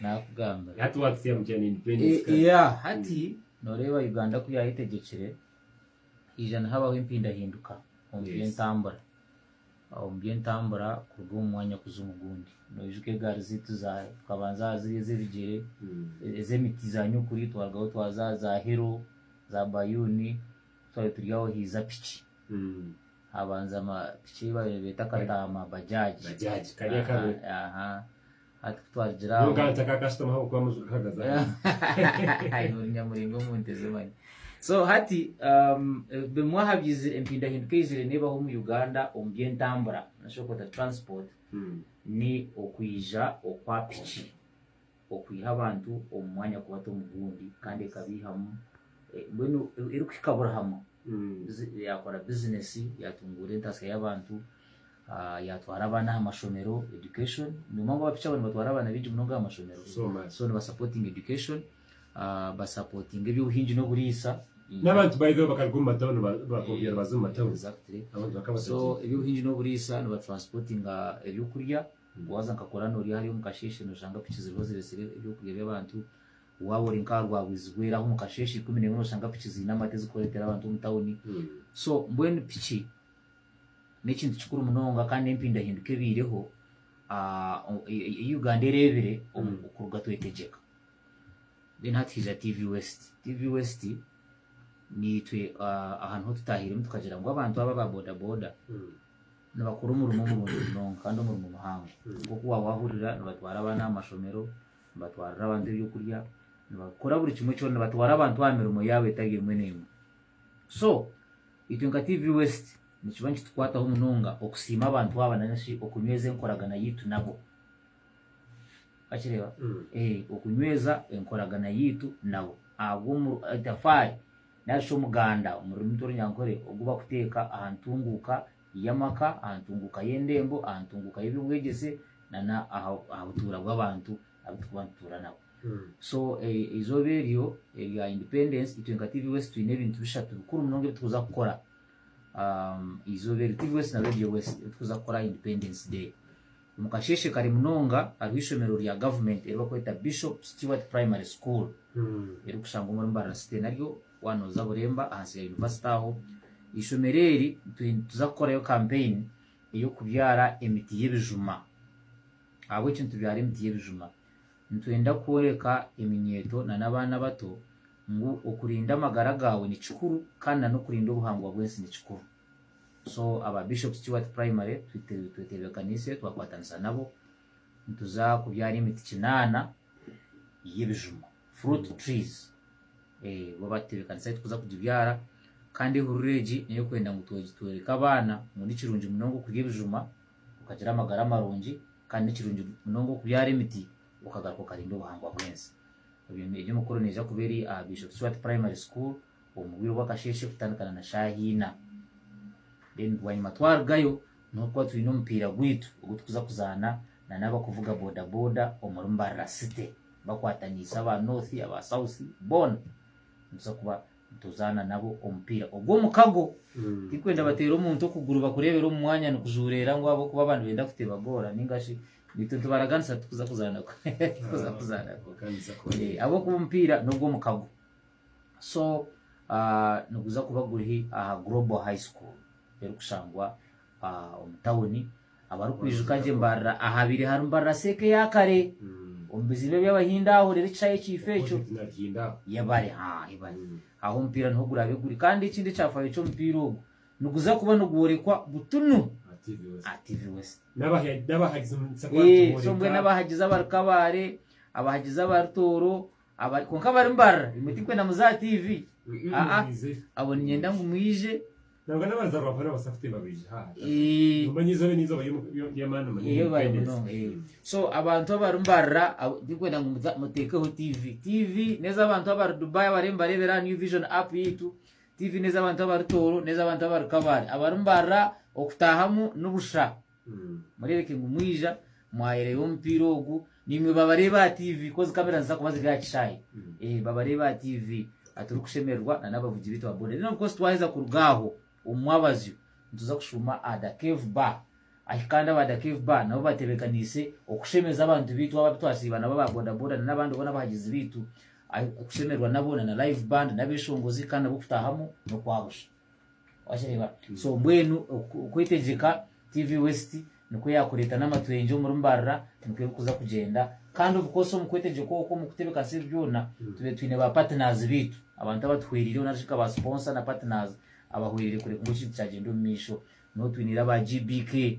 nakugamba hati noreeba Uganda ku yayetegyekire haija nihabaho empindahinduka omu byentambura omu byentambura kuruga omu mwanya kuza omu gundi noijuka egaari zaitu tukabanza aha ziri ezebigyere ezemiti za nyokuri twarugaho twaza aha za hero za bayuuni twabire turi aho haiza piki Habanza ama piki eyi babaire nibeta akataama bajaji. Bajaji kari akabire. Hati kutwarigira aho. Nyowe nkaba ntaka kasitoma ahabwokuba amaju gahagaze ahansi. Ori nyamuringo omu nte ze manya. So hati um, bimwe aha byizire empindahinduka eyizire nebaho omu Uganda omu byentambura nashobora kweta transport hmm. ni okwija okwa piki okwiha abantu omu mwanya kubata omu gundi kandi ekabihamu eh, mbwenu eh, erikuhika buri hamwe. yaakora bizineesi, yaatunguura entaasya y'abantu, yaatwara abaana aha mashomero, education, nobu abapiiki aba nibatwara abaana baingi munonga aha mashomero, so nibasapotinga education, basapotinga eby'obuhingi n'oburiisa, n'abantu baihaho bakaruga omu matauni bakoobya nibaza omu matauni, so eby'obuhingi n'oburiisa, nibatransipotinga eby'okurya, waaza nka kuraano ori hariya omu kasheeshe nooshanga piiki ziriho zireetsire eby'okurya by'abantu. Waaba ori nk'aha rwabwizi rwera aho omu kasheeshe ikumi n'emwe nooshanga piki ziine amate zikureetera abantu omu tawuni. So mbwenu piki n'ekintu kikuru munonga kandi n'empindahinduka ebaireho ei Uganda ereebire kuruga twetegyeka. Then hati haija TV West. TV West niitwe aha niho tutaahiremu tukagira ngu abantu aba aba bodaboda nibakora omurimo murungi munonga kandi omurimo muhango. Nk'oku waaba waahurira nibatwara abaana aha mashomero, Nibatwarira abantu eby'okurya, nibakora buri kimwe kyona, nibatwara abantu aha mirimo yaabo etari emwe n'emwe. So, itwe nka TV West nikiba nikitukwataho munonga okusiima abantu aba nainga shi okunyweza enkoragana yaitu nabo. Wakireeba? Ee, okunyweza enkoragana yaitu nabo. Ahabwo omu- etafaari nari shi omuganda omu rurimi rw'Orunyankore ogu bakuteeka aha ntunguuka y'amaka, aha ntunguuka y'endembo, aha ntunguuka y'eby'obwegyese, na n'aha aha butuura bw'abantu abu turikuba nitutuura nabo. So eizooba eryo erya Independence, itwe nka TV West twine ebintu bishatu bikuru munonga ebi turikuza kukora eizooba eryo. TV West na Radio West ebi turikuza kukora aha Independence Day. Omu kasheeshe kare munonga hariho eishomero rya gavumenti eri barikweta Bishop Stuart Primary School, erikushangwa omuri Mbarara City naryo waaba nooza Buremba ahansi ya yunivasite aho. Eishomero eri twine nituza kukorayo kampeyini ey'okubyara emiti y'ebijuma. Ahabw'enki nitubyara emiti y'ebijuma? Nitwenda kworeka eminyeeto nana abaana abato ngu okurinda amagara gaawe ni kikuru kandi nana okurinda obuhangwa bw'ensi ni kikuru. So aba Bishop Stuart Primary tweteebekaniise twakwatanisa nabo nituza kubyara emiti kinaana y'ebijuma, fruit trees, bo batebekanisa ahu turikuza kugibyara kandi ehururu egi n'ey'okwenda ngu tworeke abaana ngu nikirungi munonga okurya ebijuma okagira amagara marungi kandi nikirungi munonga okubyara emiti okagaruka okarinda obuhangwa bw'ensi. Egyo emikoro neija kuba eri aha Bishop Shwati Primary School omu bwire bw'akasheeshe kutandikana na shaaha ina. Then bwanyima twarugayo niho kuba twine omupiira gwaitu ogu turikuza kuzaana na n'abakuvuga bodaboda omuri Mbarara City bakwataniise aba North, aba South boona nituza kuba nituzaana nabo omupiira ogw'omukago. Tirikwenda bateere omuntu okuguru bakureebere omu mwanya nikujuureera ngu ahabw'okuba abandi nibeenda kutebagoora nainga shi baitu nitubaraganisa tikuza kuzaana tikuza kuzaana ahabw'okuba omupiira n'ogw'omukago. So niguza kuba guri aha Global High School erikushangwa omu tawuni. Abarikwijuka gye mbarira ahabiri harimu mbarira seeka eya kare omu biziiba eby'Abahindi aho reero ekishayi ekiifu ekyo yebare yebare. Aho omupiira niho guraabe guri kandi ekindi ekyafaayo ky'omupiira ogu niguza kuba nigworekwa butunu aha TV West. Eeh so mbwenu abahagizi abarikabaare, abahagizi abari Tooro, Abari kwonka abari mbarra imwe tikwenda muze aha TV aa abo ninyenda ngu mwije. Nabwe nabanza rwafa nabasa kutemba baije ha hataho nomanya eizoba eri eizoba ryamani munonga so abantu abari mbarra tikwenda ngu mutekeho TV TV neza abantu abari Dubai abariyo nibarebera aha new vision app yaitu TV neza abantu abari Toro neza abantu abari kabale abari mbarra okutahamu nibusha. Mureebeke ngu mwija, mwayereeba omupiira ogu, naimwe babareeba aha tiivi, kozi kamera niziza kuba ziri aha kishaayi, ee, babareeba aha tiivi, a turikushemererwa na n'abavugi baitu ba boda. Then of course twaheza kuruga aho omu mwabazyo nituza kushuuma aha Da Cave Bar, ahi kandi aba Da Cave Bar nabo batebekaniise okushemeza abantu baitu abo abu twasiiba nabo aba boda boda na n'abandi boona abahagizi baitu, ahi kushemererwa nabo na na Live Band n'abeshongozi kandi nabo kutaahamu n'okwa busha. Wakireeba? So mbwenu oku- okwetegyeka TV West nikwo yaakureeta n'amatwengye omuri Mbarara nikwo erikuza kugyenda. Kandi of course omu kwetegyeka okwo omu kutebeekanisa ebi byona tube twine ba partners baitu, abantu abatuhwereireho nari shi nka ba sponsor na partners abahwereire kureka ngu ekintu kyagyenda omu maisho. Niho twiniire aba GBK,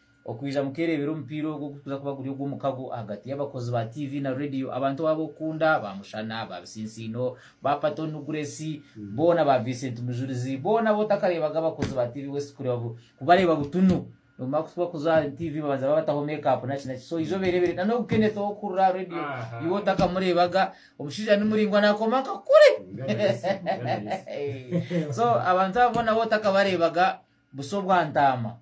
Okwija mukereebera omupiira ogwo ogurikuza kuba guri ogw'omukago ahagati y'abakozi ba TV na Radio, abantu abo ab'okukunda, ba Mushana, ba Bisinsiino, ba Patton Guresi, boona ba Vincent Mujurizi, boona abu otakareebaga abakozi ba TV West kureba bu, kubareeba butunu. Nibamara kutuba kuza aha TV babanza babataho make-up naki naki. So ija obereebere na n'ogu Kenneth ow'okuhurira aha Radio, iwe otakamureebaga, omushaija ni muraingwa naakoma nka kuri. So abantu abo boona abu otakabareebaga, Busa obwa ntaama.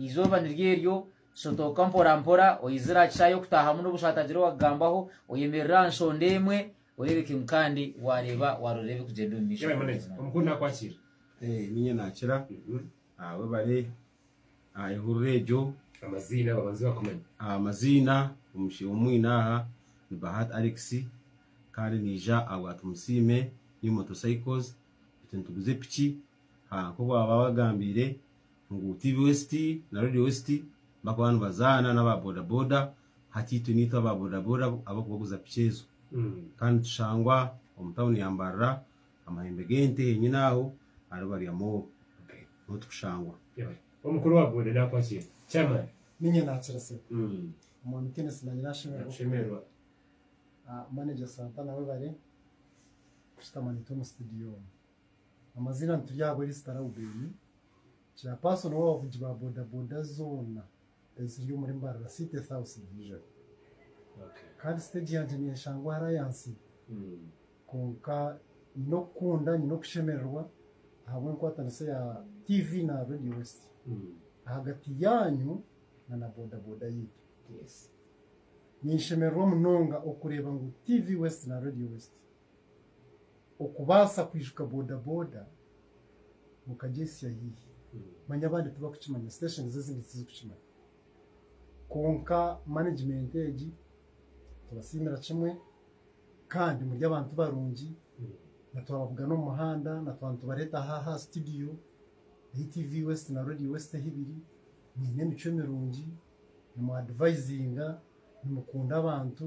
Eizooba niryo eryo, shotooka mporampora, oizire aha kishaayi okutaahamu n'obu oshaatagire owakugambaho, oyemerere aha nshonda emwe, oreebeke ngu kandi waareeba waaroorera ebirikugyenda omu maisho. Yaba eminekye. Omukuru Omukuuru naakwakiira. Eh, ninye naakira. Ah, webare aha ehurura egyo. Amaziina babanze bakumanye. Ah, amaziina, omushe owu mwine aha ni Bahati Alex, kandi naija ahabwa Tumusiime New Motorcycles, beitu nituguza epiki ahaku baba bagambire ngu TV West na Radio West bakuba nibazaana naba boda boda hati itwe niitwe aba boda boda abakubaguza piki ezo kandi nitushangwa omu town ya Mbarara amahembe gente henyini aho ahari Barya mall niho tukushangwa. Omukuru wa boda nakwa ki? Chairman. Niinye nakira sebo. Omwami Kenneth nanye nashemererwa. Manager Santana webare. Kushutama naitwe omu situdiyo omu. Amaziina nituri ahabwa Elisita Raubeni, Chairperson w'abavugi ba bodaboda zoona eziri omuri Mbarara City South Division. Kandi siteegi yangye neeshangwa hariya ahansi. Kwonka nyine okukunda, nyine okushemererwa ahabw'enkwatanisa ya TV na Radio West ahagati yaanyu na na bodaboda yaitu. Ninshemererwa munonga okureeba ngu TV West na Radio West okubaasa kwijuka bodaboda mukagyesya haihi manya abandi tibakukimanya station ezindi tizikukimanya kwonka management egi tubasiimira kimwe kandi muri abantu barungi na twababuga n'omu muhanda na twaba nitubareeta aha aha studio ahu TV West na Radio West ahu biri mwine emicwe mirungi nimwa advisinga nimukunda abantu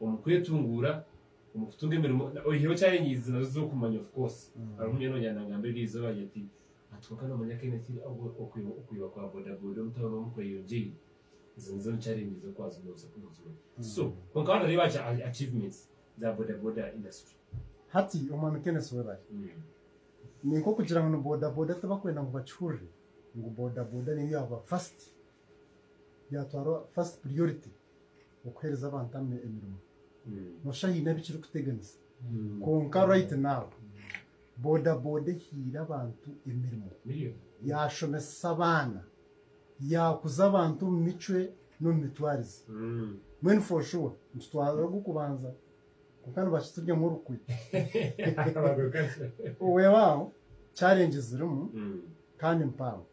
omu kwetunguura, omu kutunga emirimo, oyihireho challenge ezimazire z'okumanya of course, hariho omujwani wangye nangamba eryo eizooba wangye ati hati kwonka nomanya Kenya ki okwiba okwiba kwa boda boda omu town omu kweyongyeire, ezo nizo ni challenge z'okwaza noza nozimanya, so kwonka waaba noreeba achi achievements za boda boda industry. Hati omwami Kenneth webare. Ninka okugira ngu ni boda boda tibakwenda ngu bakihurire ngu boda boda neyo yaaba first byatwara first priority okuhereza abantu emirimo nosha haine ebikirikuteganisa kwonka right now boda boda ehaire abantu emirimo yashomesesa abaana yakuza abantu omu micwe n'omu mitwarize mbwenu for sure nitutwara ogw'okubanza kwonka nibakituryamu orukwe wewawo challenge zirimu kandi mpango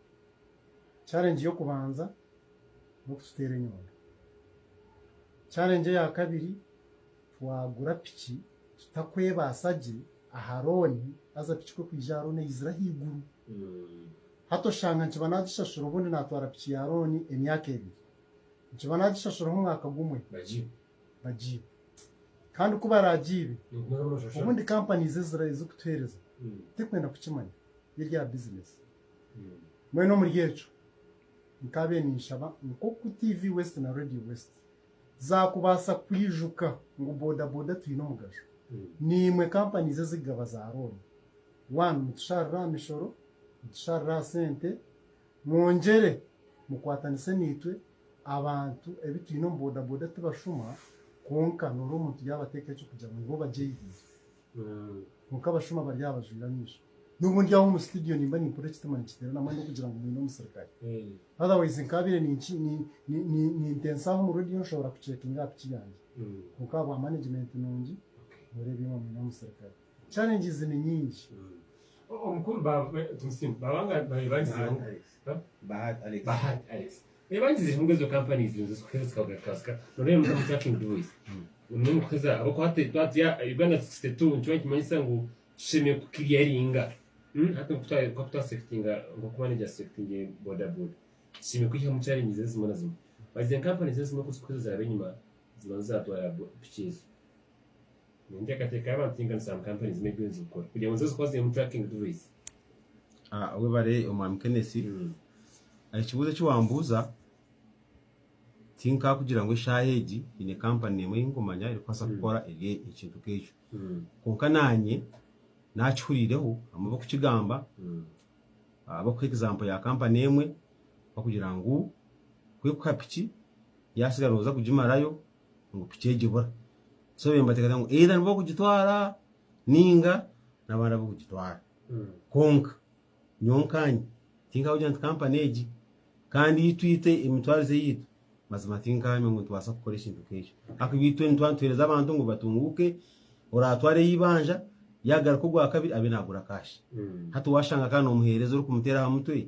Challenge y'okubanza n'okututeera enyondo. Challenge eya kabiri twagura piki tutakwebaasa gye aha rooni haza piki kwe kwija aha rooni eyizire ahaiguru. Hati oshanga nikiba nagishashura obundi natwara piki ya rooni emyaka ebiri. Nikiba nagishashura omu mwaka gumwe bagiibe. Kandi ku baragiibe obundi companies ezirikutuheereza tikwenda kukimanya, n'erya business. Mbwenu omuri ekyo nkaabaire ninshaba nk'oku TV West na Radio West zaakubaasa kwijuka ngu bodaboda twine omugasho. Niimwe companies ezikugaba za looni. One, nitusharira aha mishoro, nitusharira aha sente, mwongyere mukwatanise naitwe, abantu ebi twine omu bodaboda tibashuma, kwonka noora omuntu yaabateekaho eky'okugira ngu nibo bagyeihire. Kwonka abashuma bari aha bajwire amaisho. Nobu ndi aho omu studio nimba nimpurira ekitima nikiterana mbwenu ndikugira ngu mwine omusirikare. Otherwise nkaabire nintensa aho omu radio nshobora ku checkinga aha piki yangye. Kwonka ahabwa management nungi nooreeba imwe mwine omusirikare. Challenges ni nyingi. Omukuru Baba Tumusiime, baba nga babaire bagizeeho Bahati Alex. Bahati Alex. Reba ngizi zirimu ezo companies nizo zikuheza zikakugaruka zika. Noreba mutamu tracking device. Niyo mukuheza abakuha te twatya Uganda 62 nikiba nikimanyisa ngu tushemeye kukiryaringa. Hmm, hati nkutwa kakutwa sectinga nkoku manager sectinge boda boda. Tushemeye kwihamu challenges ezimwe na zimwe. Bazize companies ezimwe kuzikuheza ziraba enyuma zibanza zatwara piki ezo. Webare omwami kenesi ekibuzo ekiwambuza tinkakugira ngu eshaaha egi nyine kampani emwe eyinkumanya erikubaasa kukora ekintu nkekyo kwonka nanye nakihuriireho abamwe barikukigamba barikuha ekizaampo ya kampani emwe barikugira ngu ku erikuha piki yatsigara noza kugimarayo ngu piki egi ebura. So baitu nibateekateeka ngu either nibo barikugitwara nainga n'abandi abarikugitwara. Kwonka nyowe nkaanye tinkagira nti kampani egi kandi ei twita emitwarize yaitu, mazima tinkaamya ngu nitubaasa kukora ekintu nk'ekyo. Ahakuba itwe nituba nituheereza abantu ngu batunguuke, oraatwara ey'eibanja yaagaruka ogwakabiri abe naagura kaashi. Hati waashanga kandi noomuheereza orikumuteera aha mutwe?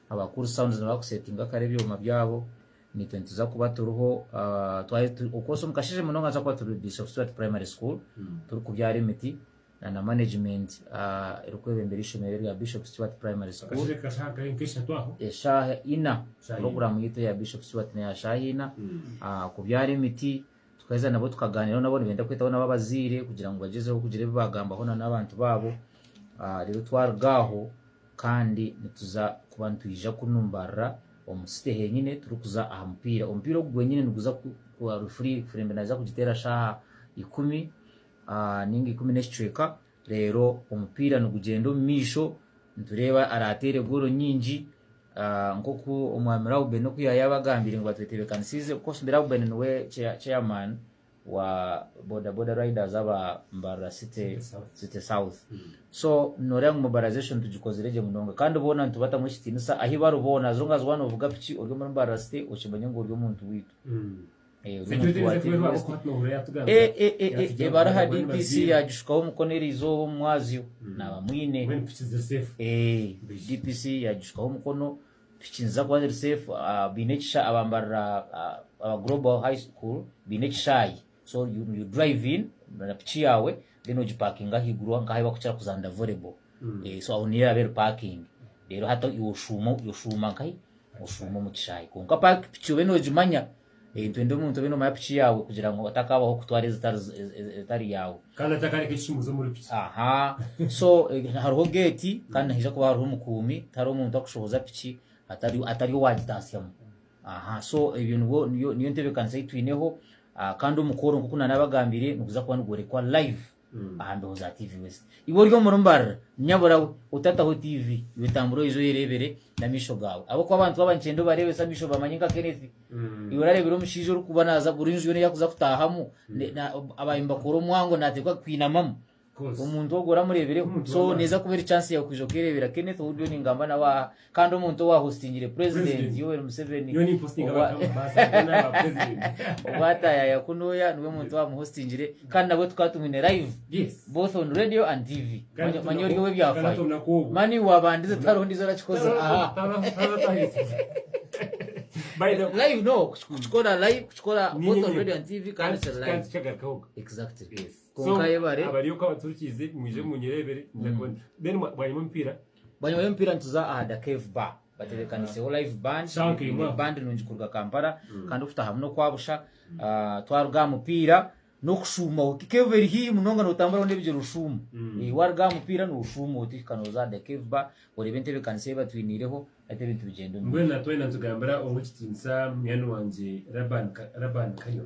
Aba cool sounds niba kusetinga kare ebyoma byabo nitwe nituza kuba turiho okwosa omukasheje munonga nituza kuba turi Bishop Stuart Primary School turi kubyara emiti na na management eri kwebembera ishomero erya Bishop Stuart Primary School eshaha ina program yitu eya Bishop Stuart neya shaha ina kubyara emiti tukaheza nabo tukaganiraho nabo nibenda kwetaho nabo abazaire kugira ngu bagyezeho kugira ebi bagambaho na na abantu babo rero twaruga aho Kandi nituza kuba nitwija kunu mbarira omu city henyine turikuza aha mupiira. Omupiira ogu gwenyine niguza kuba referee Furembe naza kugiteera shaaha ikumi ninga ikumi n'ekicweka reero omupiira nigugyenda omu maisho nitureeba araateere goolo nyingi nk'oku omwami Rauben oku yaayabagambiire ngu batwetebekanisiize. Of course Rauben niwe chairman wa boda boda riders aba Mbarara City City South so noreeba ngu mobilization tugikozire gye munonga kandi boona nitubatamu ekitiinisa ahi bari boona as long as waaba noovuga piki ori omuri Mbarara City okimanye ngu ori omuntu waitu Eh, ori omuntu wa Team West. Eh, eh, eh, eh, eh, bari aha DPC yagishukaho omukono eri izooba omu mwazyo naaba mwine Eh, DPC yagishukaho omukono Piki niziza kuba ziri safe baine ekishaayi abambarira aba Global High School baine ekishaayi so you drive in na piki yaawe then ogipakinga ahaiguru nk'ahu barikukira kuzanira volleyball so aho niyo eraabe eri parking reero hati iwe oshuuma oshuuma nkahi oshuuma omu kishaayi kwonka piki obe noogimanya Twende omuntu obe nomanya piki yaawe kugira ngu otakaabaho kutwara ezitari yaawe. Kandi atakareka ekishumuuzi omuri piki. Aha. So hariho geeti kandi nihaija kuba hariho omukuumi, tihariho muntu akushohoza piki atari owaagitaasyamu. Aha. So ebyo nibwo niyo ntebeekanisa ei twineho kandi omukooro nk'oku naanabagambire niguza kuba nigworekwa live. Aha ndoozi aha TV west. Iwe ori omuri mbarira, nyabura we, otataho TV, iwe tambura oije oyereebere n'amaisho gaawe. Ahabw'okuba abantu baba nikyenda obareebese amaisho bamanye nka Kenneth. Iwe orareebire omushaija orikuba naaza buri nju yoona ei arikuza kutaahamu, ne- na- aba nibakora omwango naateekwa kwinamamu. Omuntu ogwo oramureebireho. So neeza kuba eri chance yaawe kwija okeereebera Kenneth ou ndiyo ningamba nawe aha. Kandi omuntu owa hostingire president Yoweri Museveni obwa atayaya kunuya niwe muntu owa muhostingire kandi nabwe tukaba tumwine live both on radio and TV manya ori owe byafayo mani wabandize tihariho ndizo arakikoza aha live no kukikora live kukikora both on radio and TV kandi kiri live exactly konka yebare abariyo kwa baturukize mwije munyirebere then bwanyuma mpira Banywanyi b'emipiira nituza aha Da Cave Bar batebeekaniseho Live Band, baine band nungi kuruga Kampala kandi okutahamu n'okwa busha. Twaruga aha mupiira n'okushuuma oti Cave eri haihi munonga nootambura hoona ebigyere oshuuma. Waaruga aha mupiira nooshuuma oti hika nooza aha Da Cave Bar oreebe entebeekanisa ei batwiniireho hati ebintu bigyende omu mugisha. Mbwenu na twena nitugambira ow'ekitiinisa munywani wangye Laban Kanywa.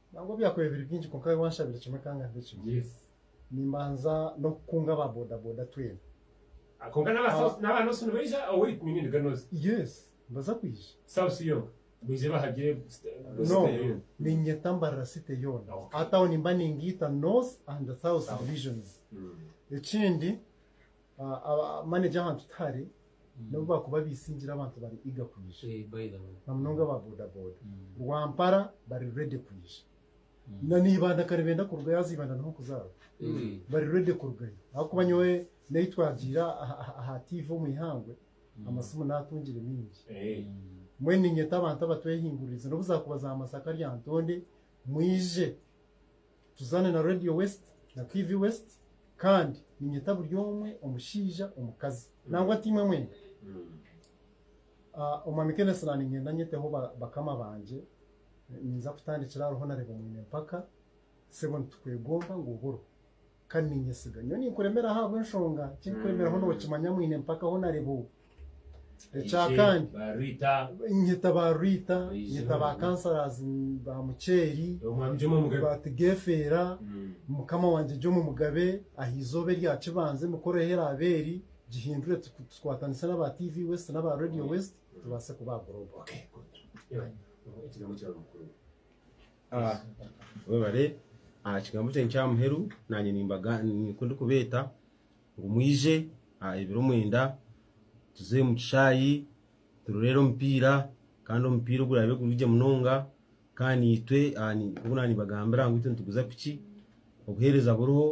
Nangwa byakubaire biri bingi kwonka nyowe wanshabire kimwe kanga mbe kimwe. Nimbanza n'okukunga aba bodaboda twena. Kwonka n'aba South Aba- n'aba North nibaija or wait ni nini Ganozi? Yes, nibaza kwija. South yoona baije bahagire kusita- No, kusita yoona. niinyeta mbarira city yoona. Okay. Aha town mba ningiita North and South South. divisions. Mm. Ekindi Aba manager ahantu tihari nobu bakuba bisingire abantu bari eager kwija na munonga aba boda boda Rwampara bari ready kwija na neibanda ka nibenda kurugayo haza eibanda niho nkuzaarwa bari ready kurugayo ahakuba nyowe neyi twagiire aha TV omu ihangwe amasimu natungire mingi mbwenu ninyeta abantu abatwehinguririze nobu zakuba za Masaka Lyantonde mwije. Tuzaane na Radio West na TV West kandi ninyeta buri omwe omushaija, omukazi nangwa ati imwe mwena. Ah, Omwami Kenneth na ninyenda nyeteho ba- bakama bangye ninza kutandikira hariho nareeba omwine mpaka sebo nitukwegomba ngu oburo kandi ninyesiga nyowe ninkuremeraho ahabw'enshonga ki ndikuremeraho nokimanya mwine mpaka ho nareeba o- Ekyakane nyeta ba Rita, nyeta ba councillors ba Muceeri, ba Tigefeera, mukama wangye Jomo Mugabe aha eizooba erya kibanza emikoro ehi eraabe eri gihindure tukwatanise n'aba TV West n'aba Radio West tubaase kubaagura obwo. Mwebare aha kigambo kyangye kya muheru, naanye ninkubaga, nikwo ndikubeeta. ngu mwije aha ebiro mwenda tuze omu kishaayi turorere omupiira kandi omupiira oguraabe guri gye munonga kandi itwe nk'oku naanibagambira ngu itwe nituguza piki obuheereza buriho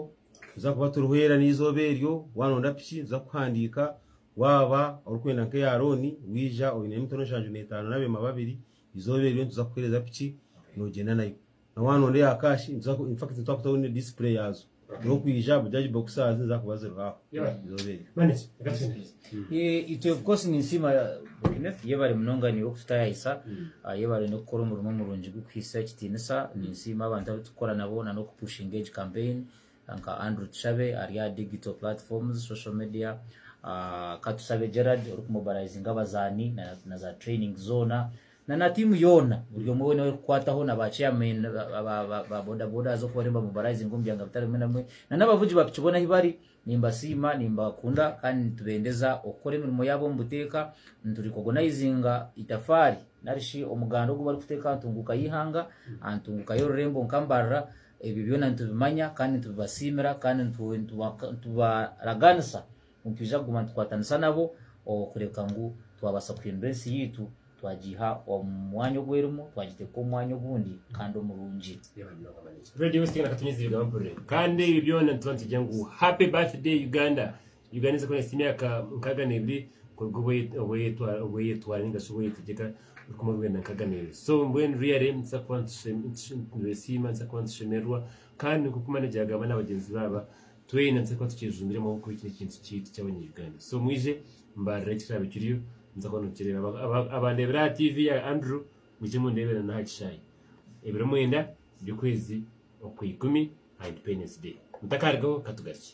tuza kuba turihwera n'eizooba eryo waaba nooda piki nituza kukuhandiika waaba orikwenda nk'eya rooni waija oine mitwaro nshanju n'etaano n'abeema babiri eizooba eryo nituza kukuheereza piki noogyenda nayo. Na waaba noreeba cash infact titwakutaho ne display yaazo nokwija buja egi boxers nizakuba ziriho aho izooba eryo. Itwe of course ninsiima Kenneth yebare munonga naiwe kututayayisa yebare nokukora omurimo murungi gukuhitsya ekitinisa ninsiima abantu abutukora nabo na nokupushinga egi campaign nka Andrew Tushabe ari aha digital platforms social media Katusabe Gerald orikumobilizinga abazaani na za training zoona Na na tiimu yoona, buri omwe weena ow'erikukwataho, na ba chairmen ba boda boda haza oku bariyo nibamobilizinga omu byanga bitari bimwe na bimwe, na n'abavugi ba piki boona ahi bari, nimbasiima, nimbakunda kandi nitubendeza okukora emirimo yaabo omu buteeka. Niturikogonaizinga itafaari nari shi omuganda ogu barikuteeka aha ntunguuka y'eihanga, aha ntunguuka y'orurembo nka Mbarara. Ebyo byona nitubimanya kandi nitubibasiimira kandi nitubaraganisa Nitwija kuguma nitukwatanisa nabo okureebeka ngu twabaasa kuhindura ensi yaitu twagiiha omu mwanya ogu erimu, twagiteeka omu mwanya ogundi kandi omurungi. Radio West Uganda Katonyeza ebigaba mpurire kandi ebi byona nituba nitugire ngu Happy Birthday Uganda. Uganda eza kuhitsya emyaka nkaaga n'ebiri kuruga obu eyetwara ninga shi obu eyetegyeka orukumi orwenda nkaaga n'ebiri. So mbwenu really nituza kuba nitwesiima nituza kuba nitushemererwa kandi nk'oku manager yaagamba na bagyenzi be aba, Twena nitubaasa kuba tukyejumbiiremu ahabw'okuba eki n'ekintu kyaitu ky'Abanya-Uganda. So mwije mbarire eki kiraabe kiriyo, noza kuba nookireeba. Abandeebire aha tiivi ya Andrew, mwije mundeebere n'aha kishaayi ebiro mwenda by'okwezi okwa ikumi aha Independence Day. Mutakaarigaho, ka tugarukye.